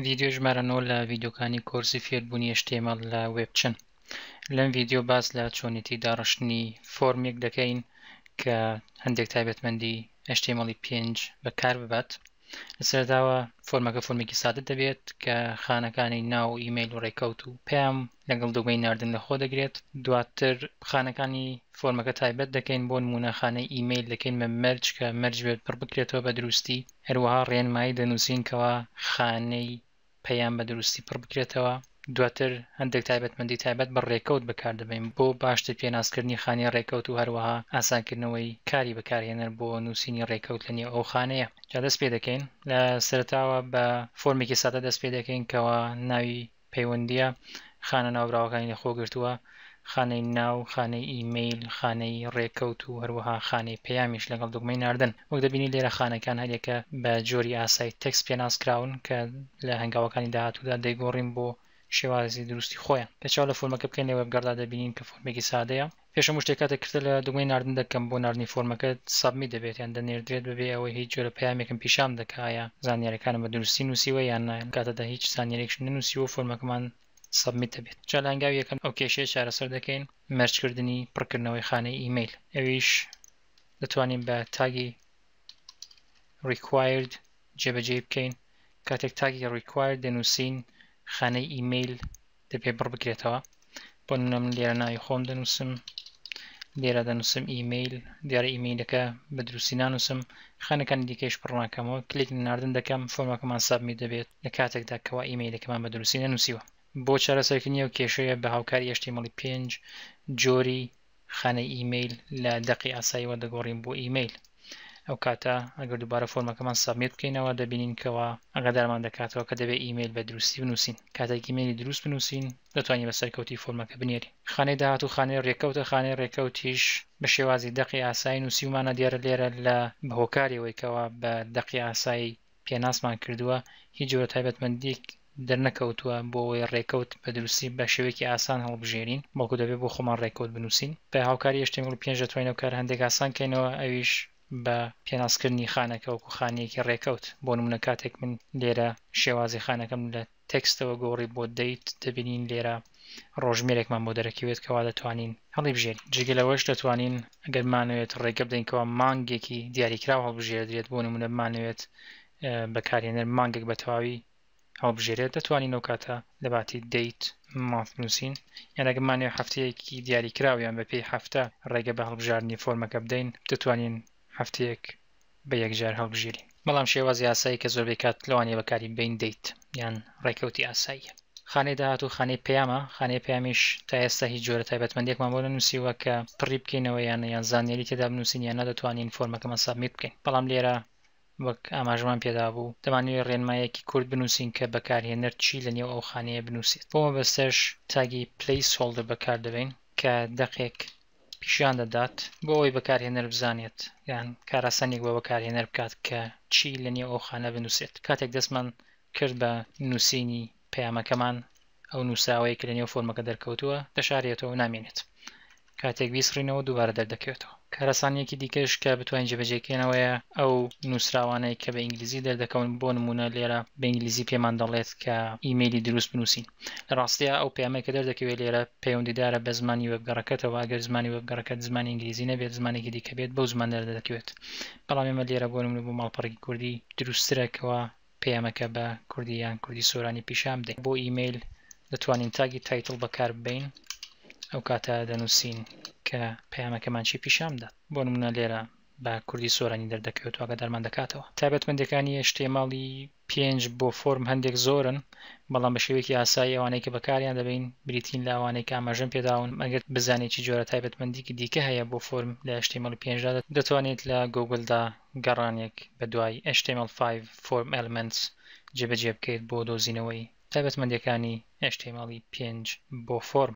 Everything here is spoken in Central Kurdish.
ڤیدیۆی ژمارە نۆ لە ڤیدیۆکانی کۆرسی فێربوونی HTML لە وێب چن؟ لەم ڤیدیۆ باس لە چۆنێتی داڕشتنی فۆرمێک دەکەین کە هەندێک تایبەتمەندی HTML5 بەکارببات لە سەرەتاوە فۆرمەکە فۆرمێکی سادە دەبێت کە خانەکانی ناو و ئیمەیل و ڕێکەوت و پەیام لەگەڵ دۆگمەی ناردن لە خۆ دەگرێت دواتر خانەکانی فۆرمەکە تایبەت دەکەین بۆ نموونە خانەی ئیمەیل دەکەین بە مەرج کە مەرج بێت پڕ بکرێتەوە بە دروستی هەروەها ڕێنمایی دەنووسین کەوا خانەی پەیام بە دروستی پڕ بکرێتەوە، دواتر هەندێک تایبەتمەندی تایبەت بە ڕێکەوت بەکار دەبەین بۆ باشتر پێناسکردنی خانەی ڕێکەوت و هەروەها ئاسانکردنەوەی کاری بەکارهێنەر بۆ نووسینی ڕێکەوت لە نێو ئەو خانەیە. جا دەست پێ دەکەین. لە سەرەتاوە بە فۆرمێکی سادە دەست پێ دەکەین کەوا ناوی پەیوەندییە خانە ناوبراوەکانی لە خۆ گرتووە. خانەی ناو، خانەی ئیمەیل، خانەی ڕێکەوت و هەروەها خانەی پەیامیش لەگەڵ دوگمەی ناردن. وەک دەبینین لێرە خانەکان هەریەکە بە جۆری ئاسای تێکست پێناس کراون کە لە هەنگاوەکانی داهاتوودا دەیگۆڕین بۆ شێوازی دروستی خۆیان. گەر چاو لە فۆرمەکە بکەین لە وێبگەڕدا دەبینین کە فۆرمێکی سادەیە. پێش هەموو شتێک کاتێک کرتە لە دوگمەی ناردن دەکەم بۆ ناردنی فۆرمەکەت سابمیت دەبێت یان دەنێردرێت بەبێ ئەوەی هیچ جۆرە پەیامێکم پیشان بدە کە ئایا زانیاریەکانم بە دروستی نووسیوە یان نا لەم کاتەدا هیچ زانیاریەکیشم نەنووسیوە و فۆرمەکەمان سەبمیت دەبێت جا لە هەنگاوی یەکەم ئەو کێشەیە چارەسەر دەکەین مەرج کردنی پڕکردنەوەی خانەی ئیمەیل ئەویش دەتوانین بە تاگی required جێبەجێی بکەین کاتێک تاگی required دەنووسین خانەی ئیمەیل دەبێ بڕ بکرێتەوە بۆ نمونە من لێرە ناوی خۆم دەنووسم لێرە دەنووسم ئیمەیل دیارە ئیمەیلەکە بە دروستی نانووسم خانەکانی دیکەش پڕناکەمەوە کلیک ناردن دەکەم فۆرمەکەمان سابمی دەبێت لە کاتێکدا کەوا ئیمەیلەکەمان بە دروستی نەنووسیوە. بۆ چارەسەرکردنی ئەو کێشەیە بە هاوکاری ئەشتیمەڵی پێنج جۆری خانەی ئیمەیل لە دەقی ئاساییەوە دەگۆڕین بۆ ئیمەیل. ئەو کاتە ئەگەر دووبارە فۆرمەکەمان سابمیت بکەینەوە دەبینین کەوا ئاگادارمان دەکاتەوە کە دەبێت ئیمەیل بە دروستی بنووسین. کاتێک ئیمەیلی دروست بنووسین دەتوانین بە سەرکەوتی فۆرمەکە بنێرین. خانەی داهاتوو خانەی رێکەوتە، خانەی رێکەوتیش بە شێوازی دەقی ئاسایی نووسیومانە دیارە لێرە لە بە هۆکاری ئەوەی کەوا بە دەقی ئاسایی پێناسمان کردووە، هیچ جۆرە تایبەتمەندییەک دەرنەکەوتووە بۆ ئەوەی ڕێکەوت بە دروستی بە شێوەیەکی ئاسان هەڵبژێرین، بەڵکو دەبێت بۆ خۆمان ڕێکەوت بنووسین. بە هاوکاری HTML پێنج دەتوانین ئەو کارە هەندێک ئاسان کەینەوە، ئەویش بە پێناسکردنی خانەکە وەکو خانەیەکی ڕێکەوت، بۆ نموونە کاتێک من لێرە شێوازی خانەکەم لە. تێکستەوە گۆڕی بۆ دەیت دەبینین لێرە ڕۆژمێرێکمان بۆ دەرەکەوێت کەوا دەتوانین هەڵیبژێرین. جگە لەوەش دەتوانین ئەگەر بمانەوێت ڕێگە بدەین کەوا مانگێکی دیاریکراو هەڵبژێردرێت بۆ نموونە بمانەوێت بەکارهێنەر مانگێک بە تەواوی هەڵبژێرێت دەتوانین ئەو کاتە لەباتی date month بنووسین یان ئەگەر بمانەوێت هەفتەیەکی دیاریکراو یان بەپێی هەفتە ڕێگە بە هەڵبژاردنی فۆرمەکە بدەین دەتوانین هەفتەیەک بە یەکجار هەڵبژێرین بەڵام شێوازی ئاسایی کە زۆربەی کات لەوانەیە بەکاری ببەین دەیت یان ڕێکەوتی ئاساییە. خانەی داهاتوو خانەی پەیامە، خانەی پەیامیش تا ئێستا هیچ جۆرە تایبەتمەندیەکمان بۆ نەنووسیوە کە پڕی بکەینەوە یان یان زانیاری تێدا بنووسین یان نەدەتوانین فۆرمەکەمان سابمیت بکەین بەڵام لێرە وەک ئاماژەمان پێدابوو دەمانەوێت ڕێنمایەکی کورت بنووسین کە بەکارهێنەر چی لە نێو ئەو خانەیە بنووسێت بۆ مەبەستەش تاگی Placeholder بەکاردەبەین کە دەقێک پیشان دەدات بۆ ئەوەی بەکارهێنەر بزانێت یان کاراسانیک بۆ بەکارهێنەر بکات کە چی لە نێو ئەو خانە بنووسێت کاتێک دەستمان کرد بە نووسینی پەیامەکەمان ئەو نووسراوەیە کە لە نێو فۆرمەکە دەرکەوتووە دەشارێتەوە و نامێنێت کاتێک بیسڕینەوە دووبارە دەردەکەوێتەوە. کاراسانیەکی دیکەش کە بتوانین جێبەجێکەینەوەیە ئەو نووسراوانەی کە بە ئینگلیزی دەردەکەون بۆ نموونە لێرە بە ئینگلیزی پێمان دەڵێت کە ئیمەیلی دروست بنووسین. لە ڕاستیا ئەو پەیامەی کە دەردەکەوێت لێرە پەیوەندیدارە بە زمانی وێبگەڕەکەتەوە، ئەگەر زمانی وێبگەڕەکەت زمانی ئینگلیزی نەبێت زمانێکی دیکە بێت بەو زمانە دەردەکەوێت. بەڵام ئێمە لێرە بۆ نمونە بۆ ماڵپەڕێکی کوردی دروستترە کەوا پەیامەکە بە کوردی یان کوردی سۆرانی پیشان بدەین. بۆ ئیمەیل دەتوانین تاگی تایتڵ بەکارببەین ئەو کاتە دەنوسین کە پەیامەکەمان چی پیشان بدات. بۆ نمونە لێرە بە کوردی سۆرانی دەردەکەوێت و ئاگادارمان دەکاتەوە تایبەتمەندیەکانی ئێچ تی ئێم ئاڵی. پێنج، بۆ فۆرم هەندێک زۆرن، بەڵام بە شێوەیەکی ئاسایی ئەوانەی کە بەکاریان دەبەین بریتین لە ئەوانەی کە ئاماژەم پێداون، ئەگەر بزانیت چ جۆرە تایبەتمەندییەکی دیکە هەیە بۆ فۆرم لە ئێچ تی ئێم ئێڵ پێنج دا، دەتوانیت لە گۆگڵدا گەڕانێک بە دوای ئێچ تی ئێم ئێڵ فایڤ فۆرم ئێلمێنتس جێبەجێ بکەیت بۆ دۆزینەوەی تایبەتمەندییەکانی ئێچ تی ئێم ئێڵ ی پێنج بۆ فۆرم.